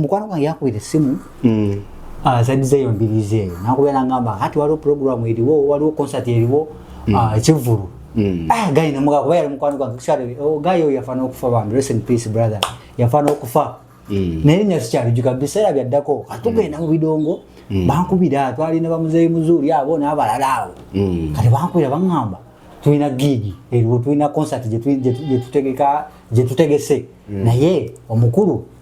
mukwano gwange yakubira essimu hmm. azadiza ah, eyo mbirizi eyo nakubeera ngamba kati waliwo puroguramu eriwo waliwo konsati eriwo hmm. ah, ekivvulu hmm. ah, gayi nemuga kuba yali mukwano gwange oh, gayi oyo yafaana okufa bambi rest in peace brother yafaana okufa Mm. naye nya sikyalijuka biseera byaddako kati tugenda mm. mu bidongo mm. bankubira twali ne bamuzeeyi muzuuli abo n'abalala awo kati bankubira baŋŋamba tulina giigi eriwo tulina konsati gyetutegese naye omukulu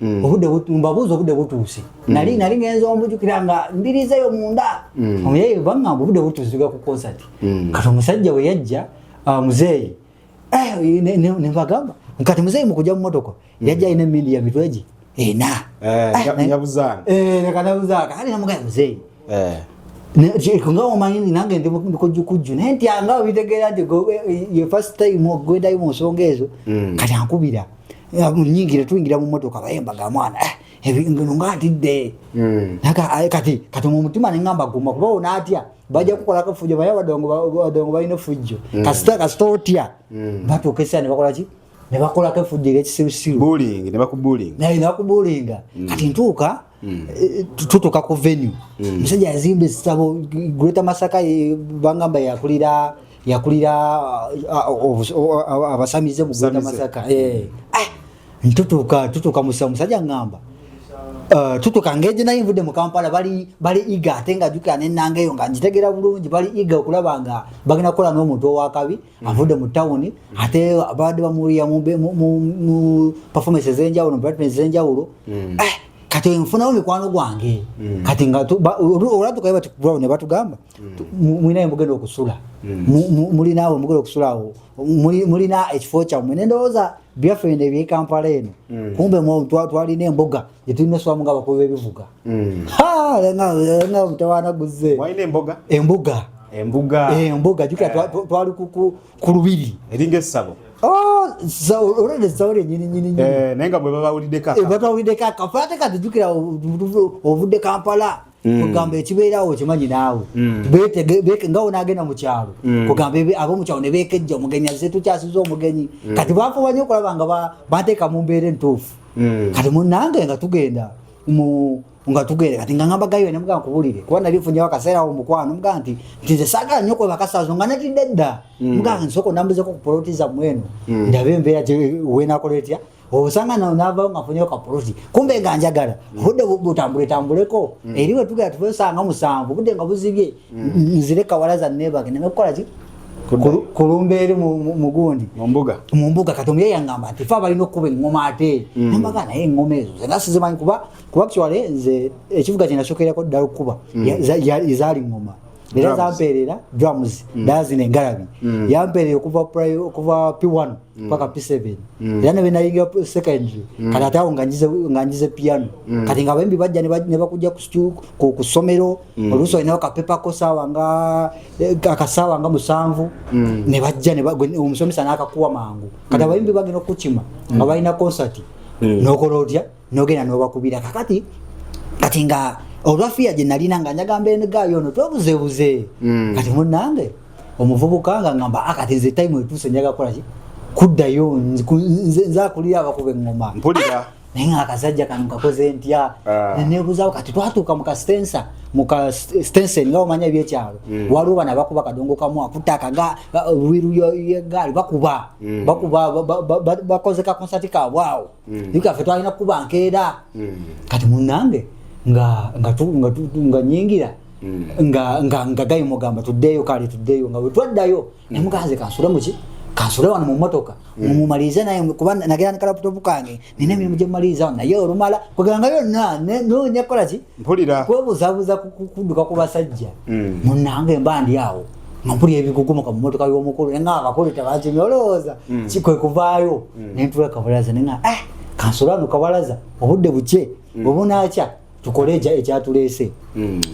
Mm. obude mbabuuza obude butuuse mm. nali nali ngenza ombujukira nga mbirizeyo munda mm. omuyeyi bangamba obude butuuse tuga ku concert kati omusajja we yajja ah, muzeeyi eh, nebagamba kati muzeeyi mukuja mu motoka yajja alina emindi ya mitweji ena eh, eh, nekanabuzaaka ali namugaya muzeeyi nga omanyi nange ndi mukujjukujju naye nti anga obitegeera nti ye first time ogwendayo mu nsonga ezo kati ankubira mm. munyingire tuyingira mu motoka bayemba ga mwana eh, ebingono nga ntidde hmm. eh, kati kati mu mutima neŋamba guma kuba ona atya bajja kukola kafujjo baye badongo balina efujjo hmm. kasita kasita otya hmm. batuuka esaa nebakolaki nebakolako efujjo ekisirusiru nebakubulinga kati ntuuka Mm. Eh, tutuka ku venue mm. musajja yazimba esitabo greater masaka eh, bangamba yakulira yakulira ah, ah, abasamize mu greater masaka eh. ah, ntutuka tutuka musa musajja ngamba Uh, tutuka ngeje naye nvudde mu kampala bali bali iga ate nga jukira nenangeyo nga njitegera bulungi bali iga okulaba nga bagenda kukola n'omuntu owakabi Mm. avudde mu tawuni mm. ate baadde bamuwulira mu performance ezenjawulo mubrightman ezenjawulo mm. eh, kati nfunawo mikwano gwange kati olatukaye batikubawo ne batugamba mulinayo mugenda okusula mulinaawe mugenda okusula awo mulina ekifo kyammwe nendowooza byaffe ne byekampala eno kumbe twalina embuga yetulina eswamu nga abakulu bebivuga mm. nga mutawana guze embuga embuga embuga eh, jukira eh. twali ku lubiri eringa essabo oh, olwenda essabo lyenyininyininyini eh, naye nga bwebabawuliddeko akafo ate kati jukira ovudde kampala Mm. kugamba ekibeerawo okimanyi naawe mm. nga onagenda mukyalo mm. kugamba abomukyalo nebekejja omugenyi aze tukyasiza omugenyi kati bafuba nyo okulaba nga bateeka mu mbeera entuufu kati munange nga tugenda nga tugere kati nga ngamba gayo nemuga nkubulire kuba nali funyawo akaseera awo mukwano muga nti nti nze saagala nnyo kwe bakasazo nga natidde dda muga nsoko nambuzeko ku poloti zammwe eno ndabe embeera wenakola etya osanga nawo navawo nga funyeyo kapuluti kumbe nga njagala mm. budde butambule tambuleko mm. eri wetugera tuvesanga musanvu budde nga buzibye mm. nzire kawala za nebage neme kukola ki kulumba eri mugundi mumbuga kati omuye yangamba nti fe abalina okukuba eŋoma ate nambaga naye eŋoma ezo zena sizimanyi kuba kuba kiwale nze ekivuga kyenasokerako ddala okukuba zaali ŋoma era zampeerera drums mm. dazina engalabi mm. yampeerera okuva okuva p1 mm. paka p7 era ne benayingira secondary kati ate awo nga njize piano kati nga bembi bajja ne bakujja ku ssomero oluusi olinawo kapepa ko saawa nga eh, akasaawa nga musanvu ne bajja omusomesa n'akakuwa mangu kati abayimbi bagenda okukima nga balina concert nokola otya nogenda nobakubira kakati kati nga olwafiya gye nalina nga njaga mbeere ne gaayo ono twebuzebuze mm. kati munange omuvubuka nga ngamba akati ah, nze time etuuse njaga kukolaki kuddayo nzakulira abakuba eŋŋoma mpulira ah! naye nga akasajja kano kakoze ntya ah. nenebuzawo kati twatuuka mu kastensa muka stensen nga omanya ebyekyalo mm. waliwo bana bakuba kadongo kamu akutaka nga wiru yegaali bakuba mm. bakuba bakoze kakonsati kabwawo mm. nika fe twalina kuba nkeera mm. kati munange nga nga tu nga tu nga nyingira mm. nga nga nga gayi mugamba tuddeyo kali tuddeyo nga wetwaddayo mm. ne muganze kansula muki kansula wano mu motoka mm. mumalize naye kuba nagera ne kalaputopu kange nina emirimu gye mumaliza naye olumala kugera nga yonna ne no nyakola ki mpulira kwebuzabuza kuduka ku basajja mm. munange mba ndi awo nga mpulira ebigugumuka mu motoka y'omukulu nga abakulu tebakimya olowooza mm. kikwe kuvaayo mm. nentula kabalaza nenga eh, kansolano kabalaza obudde bukye bwebunakya tukole ekyatuleese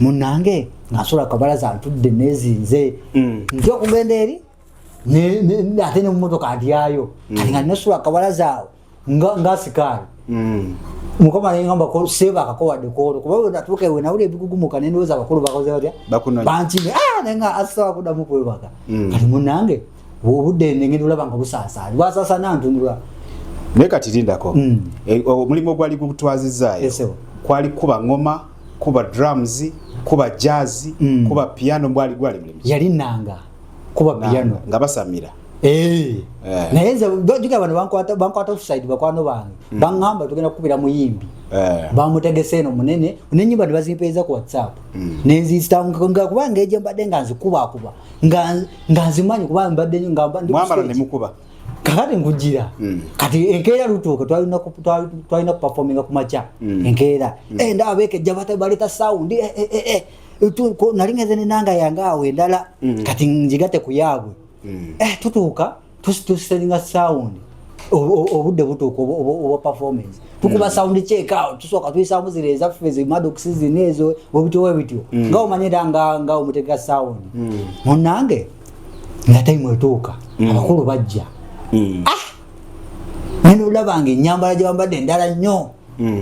munange nga nsola kabalaza ntudde nezinze nti okugenda eri ate nemumotoka ndyayo kati nga nesula kabalaza awo nga nga sikaali mm. mukama nengamba ko seba akakowa dekoro kuba we natuke we naule bigugumuka nende weza bakuru bakoze batya bakuno banchi me ah nenga asa kuda muko we baka mm. kali munange wo bude nenge dula banga busasa wa sasa nantu ndula ne kati linda ko mm. e, eh, mulimo gwali kutwazi zayo yes, kwali kuba ngoma kuba drums kuba jazz mm. kuba piano bwali gwali mulimo yali nanga kuba piano nga basamira Eh. eh. naye nze juga bano bankwata offside bakwano bange mm. baŋŋamba tugenda kukubira muyimbi eh. bamutegese eno munene nenyumba tebazimpeeza ku whatsapp mm. nenzisitanga kuba ngeje mbadde nga nzikubakuba nga nzimanyi kuba mbadde nyomukuba kakati nkujira mm. kati enkeera lutuuka twalina kupafominga ku makya enkeera endaba bekejja baleta sawundi nali ngenze nenanga yange awo endala kati njigate ku yaabwe mm. eh, tutuuka tusituseringa sound obudde butuuka oba performance tukuba mm. sound check out tusooka tuyisamu zira ezaffe zimadox zina ezo webityo webityo mm. nga omanye era nga omutegeka sound mm. munange nga time etuuka abakulu bajja ah! nene olabanga enyambala gyebambadde endala nnyo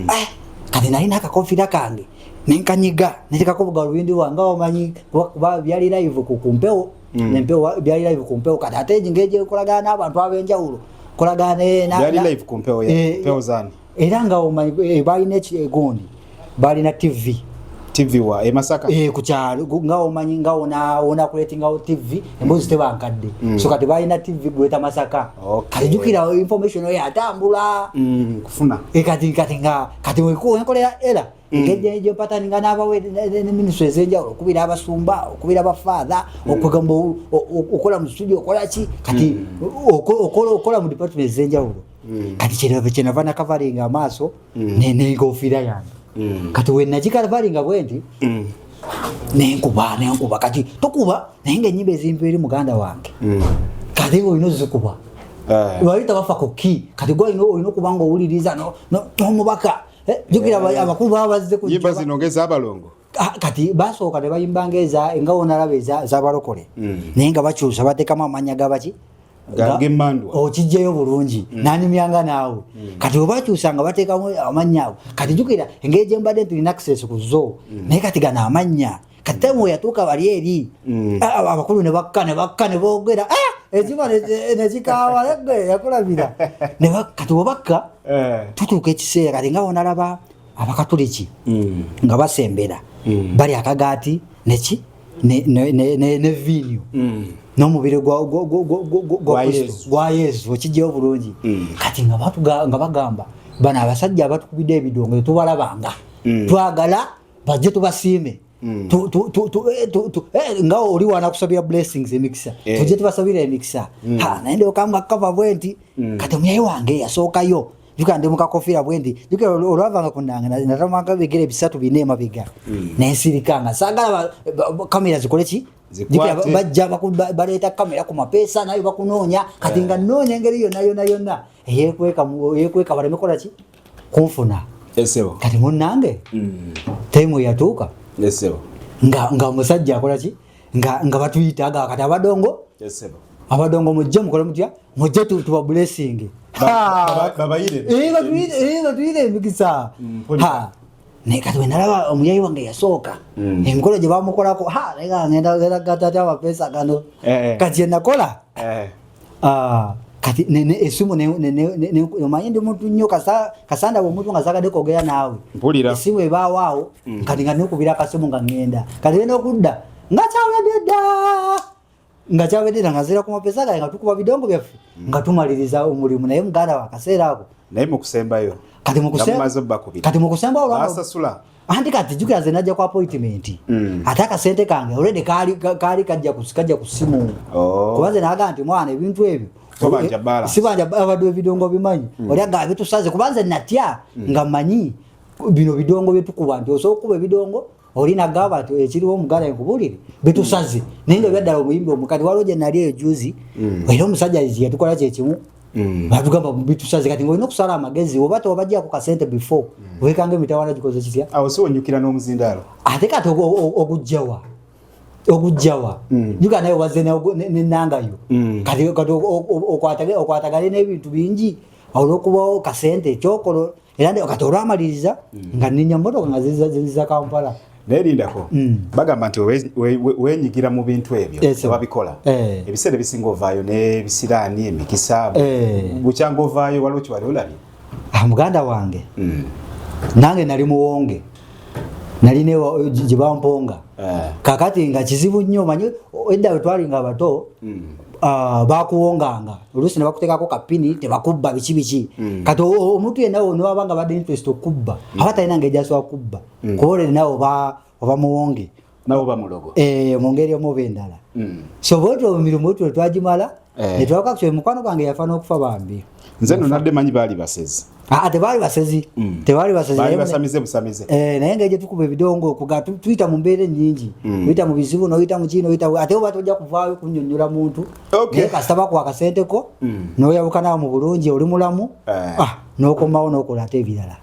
ah! kati nalina akakofira kange nenkanyiga natekako bugalubindi bwange omanyi kuba byali live ku kumpewo mm. nempewo byali live ku mpewo kati ate ngeje okolagana n'abantu ab'enjawulo kolagana eh, byali live ku mpewo eh, mpewo zani era nga omanyi eh, balina ekigundi balina tv tv wa e masaka e ku kyalo nga omanyi nga ona ona kuletinga o tv embozi tebankadde mm. so kati balina tv gweta masaka okay. kati jukira information oyo atambula mm, kufuna e kati kati nga kati wekuwa enkolera era Mm. engeri gyopataninga n'abawe ne minisitule ez'enjawulo okubira abasumba okubira abafaatha mm. okugamba okola mu studio okola ki kati mm. okola mu department ez'enjawulo kati kyenava nakavalinga amaaso nenkofiira yange kati wenagikavalinga bwendi nenkuba nenkuba kati tokuba naye nga enyimba ezimpi eri muganda wange kati olina ozikuba eh. wali tabafa ku ki kati gwe olina okuba nga owuliriza n'omubaka Eh, jukira eh. abakulu baba bazze ku nyimba zino ngeza abalongo ah, kati basooka ne bayimba ngeza nga wonalaba ezabalokole hmm. naye nga bakyusa batekamu amanya gabaki okijjayo bulungi hmm. nanyumyanga naawe hmm. kati obakyusa nga batekamu amanya ago kati jukira engeri gyembadde nti linaxes ku zo naye kati gano amanya kati awo yatuuka wali eri mm. ah, ah, abakulu ne bakka ne bakka ne boogera ah, ekiba ne kikaawa nege yakulabira ne bakka tibobakka eh. tutuuka ekiseera linga wonalaba abakatuliki mm. nga basembera mm. bali akagaati neki ne vinyu n'omubiri gwa yesu okijjayo obulungi kati nga bagamba bano abasajja abatukubidde ebidongo tetubalabanga twagala bajje tubasiime mm. eh, eh, nga oli wanakusabira blessings emikisa eh. tujje tubasabira emikisa mm. naye ndokamba kukava bwe nti mm. kati omuyayi wange yasookayo juka ndi mukakofiira bwe nti juka olwavanga ku nanga natamanga bigere bisatu bine emabega nensirika nga saagala kamera zikole ki bajja baleeta kamera ku mapeesa nayo bakunoonya kati nga nnoonya engeri yonna yonna yonna eyekweka eyekweka baleme kola ki kunfuna esebo kati munange mm. temu yatuuka esebo nga nga omusajja akola ki nga nga batuyita aga kati abadongo esebo abadongo mujje mukole mutya mujje tuba blessing babayire inga tuyire inga tuyire mikisa mm, ha naye kati wenalaba omuyayi wange yasooka mm. emikolo gye bamukolako ha naye nga ngenda genda gatati amapeesa gano eh, eh. kati enakola eh. ah, kati esimu omanyi ndi muntu nnyo kasanda omuntu nga zagadde kwogera naawe esimu ebaawaawo mm. kati nga nokubira akasimu nga ngenda kati ena okudda nga kyawedde dda nga kyawedera nga zira kumapesa gaye nga tukuba bidongo byaffe mm. nga tumaliriza omulimu naye muganda wa kaseera ako naye mukusembayo kati mukusembayo olwasasula anti kati jukira ze najja ku appointment mm. ate akasente kange already kaali kaali kajja kusikajja ku simu oh. kuba ze naga nti mwana ebintu ebyo eh, sibanja abadde ebidongo bimanyi mm. oli aga bitusaze kuba nze natya nga manyi bino bidongo byetukuba nti osobola okukuba ebidongo oli nagamba nti ekiriwo omugala enkubulire bitusaze naye nga byaddala omuyimbi omukati waliwo gye nali eyo juzi mm. era omusajja yatukola kyekimu mm. batugamba bitusaze kati ngaolina okusala amagezi oba tewabajjako kasente before mm. wekanga emitawana gikoze kitya awo si onyukira n'omuzindaalo ate kati ogujjawa ogujjawa juga naye obaze nenangayo kati okwatagale n'ebintu bingi olwokubawo kasente ekyokolo era ndio kati olwamaliriza mm. nga ninya motoka nga ziza Kampala naye lindako mm. bagamba nti wenyigira mu bintu ebyo babikola eh. ebiseera ebisinga ovaayo n'ebisiraani emikisa eh. bukyanga ovaayo waliwo kiwali olabye ah, muganda wange mm. nange nali muwonge nali gyebamponga eh. kakati nga kizibu nnyo manyi edda wetwalinga abato hmm. ah, bakuwonganga oluusi nebakutekako kapini tebakubba biki biki hmm. kati omuntu yena newaba nga badde interest okubba hmm. aba talina nga ejasobola kubba kuba olere nawe oba muwonge nawo bamulogo eh mungeri omubi ndala mm. so boto mirumu tu twajimala eh. ne twaka kyo mukwano gwange yafana okufa bambi nze no nadde manyi bali basezi ah te bali basezi mm. te bali basezi bali basamize busamize eh naye ngaje tukube bidongo kuga tuita mu mbere nyingi mm. tuita mu bizibu no tuita mu chino tuita ate oba toja kuvaayo kunyonyola muntu okay. ne kasaba kwa kasente ko mm. no yabukana mu bulungi oli mulamu eh. ah no komawo no kola te bilala